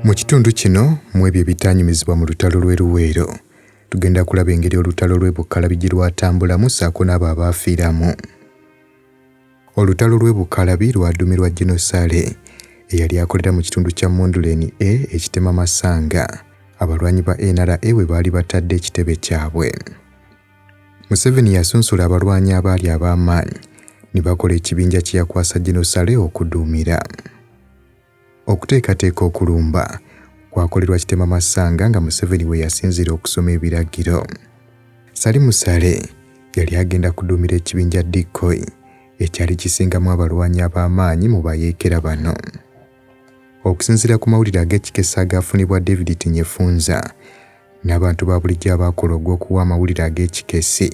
Mu kitundu kino mu ebyo ebitaanyumizibwa mu lutalo lw'e Luweero, tugenda kulaba engeri olutalo lw'e Bukkalabi gye lwatambulamu ssaako n'abo abaafiiramu. Olutalo lw'e Bukkalabi lwaduumirwa Gino Sale eyali akolera mu kitundu kya Monduleni A ekitema Masanga, abalwanyi ba NRA we baali batadde ekitebe kyabwe. Museveni yasunsula abalwanyi abaali ab'amaanyi ne bakola ekibinja kye yakwasa Gino Sale okuduumira. Okuteekateeka okulumba kwakolerwa Kitema Masanga nga Museveni we yasinziira okusoma ebiragiro. Sali Musale yali agenda kuduumira ekibinja Decoy ekyali kisingamu abalwanyi ab'amaanyi mu bayeekera bano. Okusinziira ku mawulire ag'ekikesa agaafunibwa David Tinyefunza, n'abantu ba bulijjo abaakola ogw'okuwa amawulire ag'ekikessi.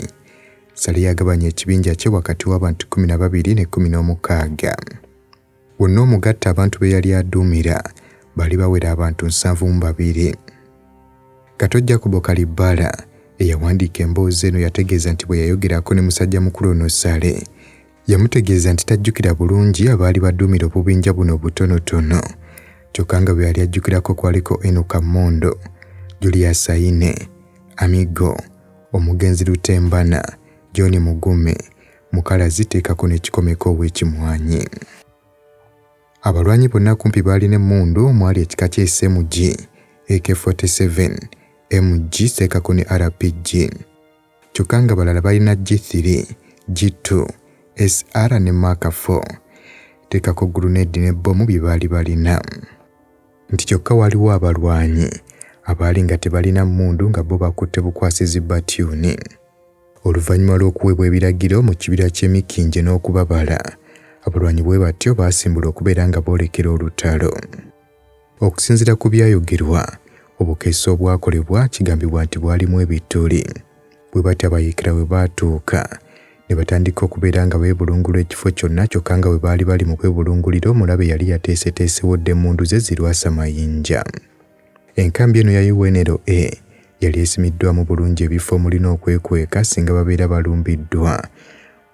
Sale yagabanya ekibinja kye wakati w'abantu kkumi na babiri ne kkumi n'omukaaga. Wonna omugatta abantu be yali aduumira baali bawera abantu nsanvu mu babiri. Kato Jacobo Kalibbala eyawandiika emboozi eno yategeeza nti bwe yayogerako ne musajja mukulu ono Sale Yamutegeeza nti tajjukira bulungi abaali baduumira obubinja buno obutonotono kyokka nga bwe yali ajjukirako kwaliko Enoka Mondo, Julius Aine, Amigo, omugenzi Lutembana, John Mugume, Mukalazi teekako n'ekikomeko ow'ekimwanyi. Abalwanyi bonna kumpi baalina emmundu omwali ekika kya SMG, AK-47, MG teekako ne RPG. kyokka nga balala balina G3, G2, SR ne Mark 4 teekako guluneedi ne bbomu bye baali balina nti kyokka waliwo abalwanyi abaali nga tebalina mmundu nga bo bakutte bukwasizi batyuni oluvannyuma lw'okuweebwa ebiragiro mu kibira ky'emikinje n'okubabala abalwanyi bwe batyo baasimbula okubeera nga boolekera olutalo Okusinzira ku byayogerwa, obukeesi obwakolebwa kigambibwa nti bwalimu ebituli. Bwe batyo abayeekera we baatuuka ne batandika okubeera nga beebulungula ekifo kyonna kyokka nga bwe baali bali mu kwebulungulira omulabe yali yateeseteesewo dda emmundu ze zirwasa mayinja. Enkambi eno ya UNLA yali esimiddwamu bulungi ebifo omuli n'okwekweka singa babeera balumbiddwa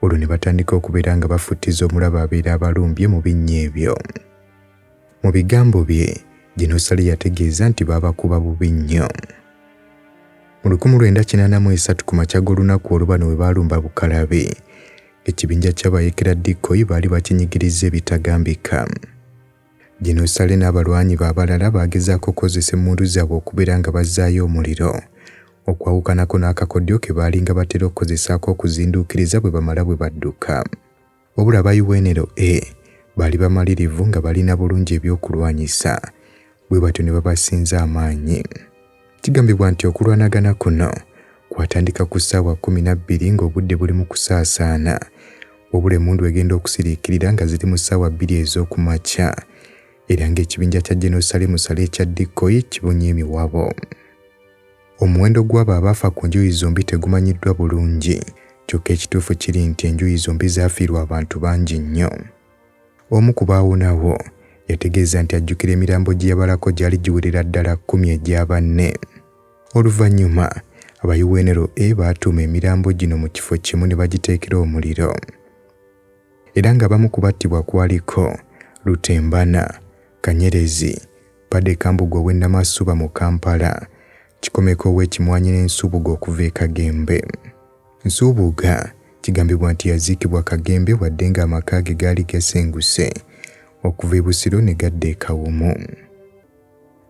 olwo ne batandika okubeera nga bafuttiza omulabe abeera abalumbye mu binnya ebyo. Mu bigambo bye, Ginosale yategeeza nti baabakuba bubi nnyo. Mu lukumu lwenda kinaana mu esatu ku makya g'olunaku olwo bano bwe baalumba Bukalabi, ekibinja ky'abayeekera Dikkoyi baali bakinyigirizza ebitagambika. Ginosale n'abalwanyi be abalala baagezaako okukozesa emmundu zaabwe okubeera nga bazzaayo omuliro, okwawukanako n'akakodyo ke baalinga batera okukozesa ak'okuzinduukiriza bwe bamala bwe badduka. Wabula aba UNLA baali bamalirivu nga balina bulungi ebyokulwanyisa bwe batyo ne babasinza amaanyi. Kigambibwa nti okulwanagana kuno kwatandika ku ssaawa kkumi na bbiri ng'obudde buli mu kusaasaana wabula emmundu egenda okusiriikirira nga ziri mu ssaawa bbiri ez'oku makya era ng'ekibinja kya General Salim Saleh ekya Dikkoyi kibunye emiwabo. Omuwendo gw'abo abaafa ku njuyi zombi tegumanyiddwa bulungi, kyokka ekituufu kiri nti enjuyi zombi zaafiirwa abantu bangi nnyo. Omu ku baawonawo yategeeza nti ajjukira emirambo gye yabalako gyali giwerera ddala kkumi egya banne. Oluvannyuma, aba UNRA baatuuma emirambo gino mu kifo kimu ne bagiteekera omuliro. era ng'abamu ku battibwa kwaliko Lutembana, Kanyerezi, Bade Kambugu ow'e Namasuba mu Kampala, Kikomeko ow'e Kimwanyi ne Nsubuga okuva e Kagembe. Nsubuga kigambibwa nti yaziikibwa Kagembe wadde ng'amaka ge gaali gasenguse okuva e Busiro ne gadda e Kawumu.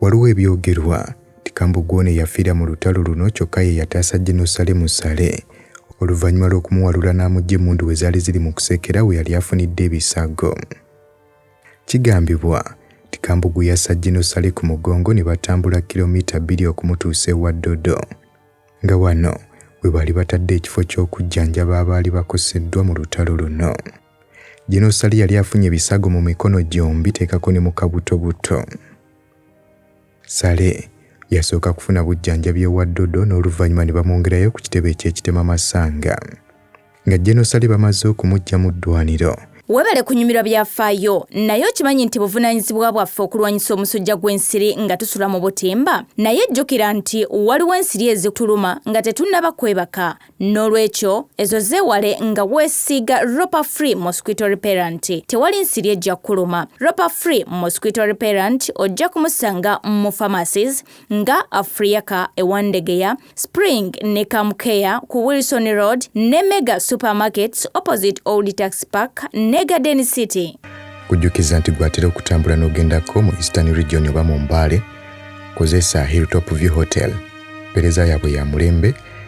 Waliwo ebyogerwa nti Kambogwa ono eyafiira mu lutalo luno kyokka ye yataasa General Saleh Musale oluvannyuma lw'okumuwalula n'amugya emmundu we zaali ziri mu kusekera we yali afunidde ebisago. Kigambibwa nti Kambogwa yassa General Saleh ku mugongo ne batambula kkirommita bbiri okumutuusa ewa Ddodo nga wano we baali batadde ekifo ky'okujjanjaba abaali bakoseddwa mu lutalo luno. Genosali yali afunye ebisago mu mikono gyombi teekako ne mu kabutobuto. Sale yasooka kufuna bujjanjabi ewa Dodo n'oluvannyuma ne bamwongerayo ku kitebe eky'ekitema Masanga. Nga Genosali bamaze okumuggya mu ddwaniro, Webale kunyumirwa byafaayo, naye okimanyi nti buvunanyizibwa bwaffe okulwanyisa omusujja gw'ensiri nga tusula mu butimba? Naye jjukira nti waliwo ensiri ezituluma nga tetunnaba kwebaka, N'olwekyo ezo zeewale nga weesiiga Ropa Free Mosquito Repellent. Tewali nsiri ejja kukuluma. Ropa Free Mosquito Repellent ojja kumusanga mu pharmacies nga Afriaka e Wandegeya, Spring ne Kamukea ku Wilson Road ne Mega Supermarkets opposite Old Tax Park ne Garden City. Kujjukiza nti gw'atera okutambula n'ogendako mu Eastern Region oba mu Mbale, kozesa Hilltop View Hotel. Mpeereza yaabwe ya mulembe.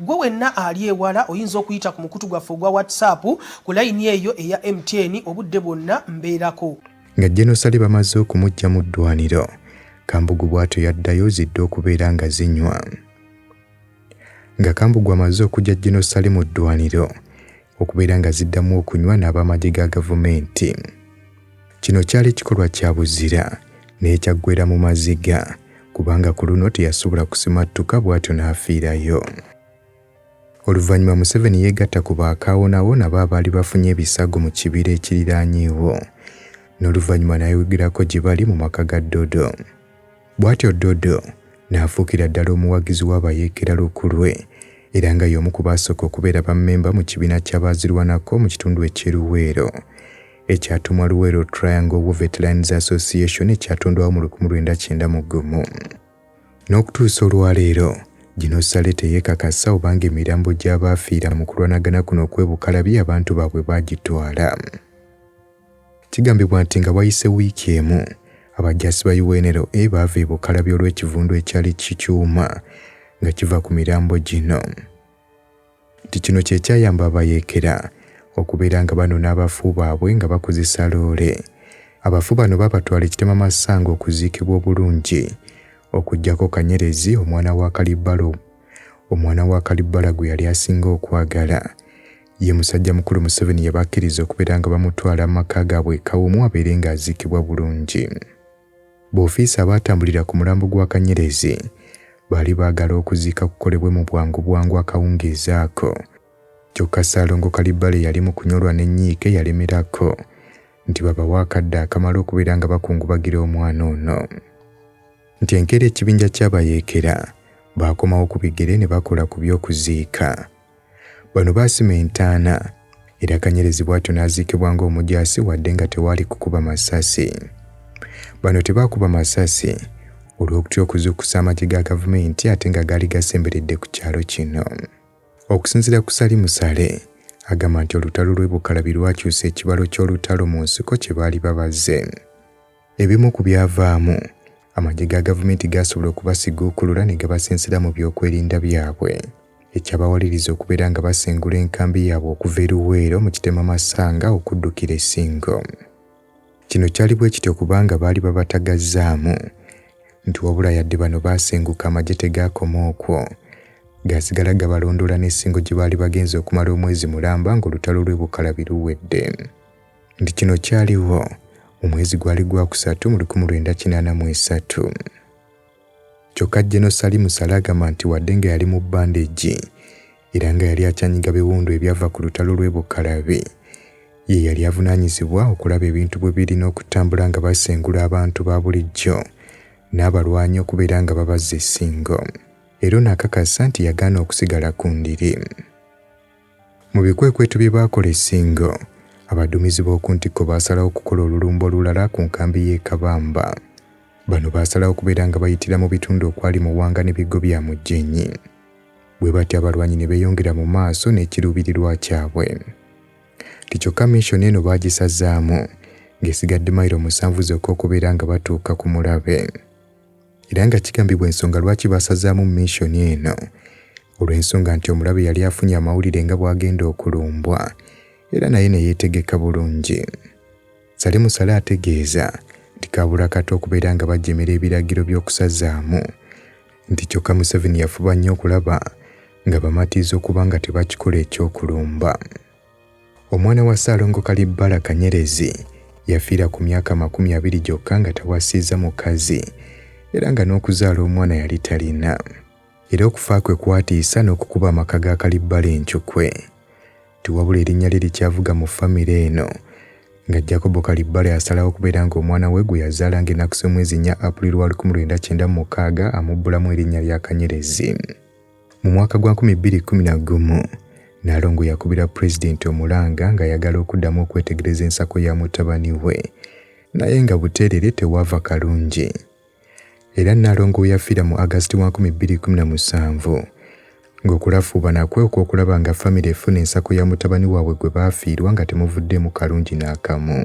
Gwe wenna ali ewala oyinza okuyita ku mukutu gwaffe ogwa WhatsApp ku layini eyo eya MTN obudde bwonna mbeerako. Nga Jenosali bamaze okumujja mu ddwaniro, Kambugu bwatyo yaddayo zidde okubeera nga zinywa. Nga Kambugu amaze okujja Jenosali mu ddwaniro, okubeera nga ziddamu okunywa n'abamagye ga gavumenti. Kino kyali kikolwa kya buzira naye kyaggweera mu maziga kubanga ku luno teyasobola kusimattuka bw'atyo n'afiirayo. Oluvannyuma Museveni yeegatta ku ba kaawonawo nabo abaali bafunye ebisago mu kibira ekiriraanyeewo n'oluvannyuma n'ayogerako gye bali mu maka ga Dodo. Bwatyo Dodo n'afuukira ddala omuwagizi w'abayeekera lukulwe era nga y'omu ku baasooka okubeera bammemba mu kibiina ky'abaazirwanako mu kitundu eky'e Luweero ekyatumwa Luweero Triangle War Veterans Association ekyatondwawo mu lukumi lwenda kyenda mu gumu. N'okutuusa olwaleero, gino ssale teyeekakasa obanga emirambo gy'abaafiira mu kulwanagana kuno okw'e Bukalabi abantu baabwe baagitwala. Kigambibwa nti nga wayise wiiki emu, abajaasi ba UNLA baava e Bukalabye olw'ekivundu ekyali kikyuma nga kiva ku mirambo gino nti kino kye kyayamba abayeekera okubeera nga banona abafu baabwe nga bakozesa loole. Abafu bano baabatwala e Kitema Masanga okuziikibwa obulungi okuggyako Kanyerezi omwana wa Kalibbala omwana wa Kalibbala gwe yali asinga okwagala. Ye musajja mukulu Museveni yabakkiriza okubeera nga bamutwala mu maka gaabwe e Kawumu abeere ng'aziikibwa bulungi. Boofiisa abaatambulira ku mulambo gwa Kanyerezi baali baagala okuziika kukolebwe mu bwangu bwangu akawungeezi ako. Kyokka Ssaalongo Kalibbala eyali mu kunyolwa ne nnyiike yalemerako nti babawe akadde akamala okubeera nga bakungubagira omwana ono. Nti enkeera ekibinja ky'abayeekera baakomawo ku bigere ne bakola ku by'okuziika. Bano baasima entaana era Kanyerezi bw'atyo n'aziikibwa ng'omujaasi wadde nga tewaali kukuba masasi. Bano tebaakuba masasi olw'okutya okuzuukusa amagye ga gavumenti ate nga gaali gasemberedde ku kyalo kino. Okusinzira ku Sali Musale, agamba nti olutalo lw'e Bukalabi lwakyusa ekibalo ky'olutalo mu nsiko kye baali babaze. Ebimu ku byavaamu, amagye ga gavumenti gaasobola okubasiguukulula ne gabasensera mu byokwerinda byabwe, ekyabawaliriza okubeera nga basengula enkambi yaabwe okuva e Luweero mu Kitema Masanga okuddukira e Ssingo. Kino kyali bwe kityo kubanga baali babatagazzaamu nti wabula yadde bano baasenguka amagye tegaakoma okwo, gaasigala gabalondoola n'e Ssingo gye baali bagenze okumala omwezi mulamba ng'olutalo lw'e Bukalabi luwedde. nti kino kyaliwo mu mwezi gwali gwa kusatu mu lukumi lwenda kinaana mu esatu. Kyokka Jeno Sali Musale agamba nti wadde nga yali mu bandegi era nga yali akyanyiga biwundu ebyava ku lutalo lw'e Bukalabi, ye yali avunaanyizibwa okulaba ebintu bwe birina okutambula nga basengula abantu ba bulijjo n'abalwanyi okubeera nga babazza essingo era ono akakasa nti yagaana okusigala ku ndiri. Mu bikwekweto bye baakola e Ssingo, abaduumizi b'oku ntikko baasalawo okukola olulumba olulala ku nkambi y'e Kabamba. Bano baasalawo okubeera nga bayitira mu bitundu okwali Muwanga ne Biggo bya Mugyenyi. Bwe batyo abalwanyi ne beeyongera mu maaso n'ekiruubirirwa kyabwe. Nti kyokka mission eno baagisazaamu ng'esigadde mayiro musanvu zokka okubeera nga batuuka ku mulabe. era nga kigambibwa ensonga lwaki baasazaamu minsoni eno olw'ensonga nti omulabe yali afunye amawulire nga bw'agenda okulumbwa era naye ne yeetegeka bulungi sale musale ategeeza nti kaabula kato okubeera nga bajjemera ebiragiro by'okusazaamu nti kyokka museveni yafuba nnyo okulaba nga bamatiza okuba nga tebakikola ekyokulumba Omwana wa Ssaalongo Kalibbala Kanyerezi yafiira ku myaka amakumi abiri gyokka nga tawasizza mukazi era nga n'okuzaala omwana yali talina. Era okufa kwe kwatiisa n'okukuba amaka ga Kalibbala encukwe nti wabula erinnya lye likyavuga mu famire eno nga Jacobo Kalibbala yasalawo okubeera ng'omwana we gwe yazaala ng'ennaku z'omwezi nnya April wa lukumi lwenda kyenda mu mukaaga amubbulamu erinnya lya Kanyerezi. Mu mwaka gwa 2011, Nnaalongo yakubira Pulezidenti omulanga ng'ayagala okuddamu okwetegereza ensako ya mutabani we naye nga buteerere tewaava kalungi. Era Nnaalongo we yafiira mu August wa 2017 ng'okulafuubana kwe okw'okulaba nga famire efuna ensako ya mutabani waabwe gwe baafiirwa nga temuvuddeemu kalungi n'akamu.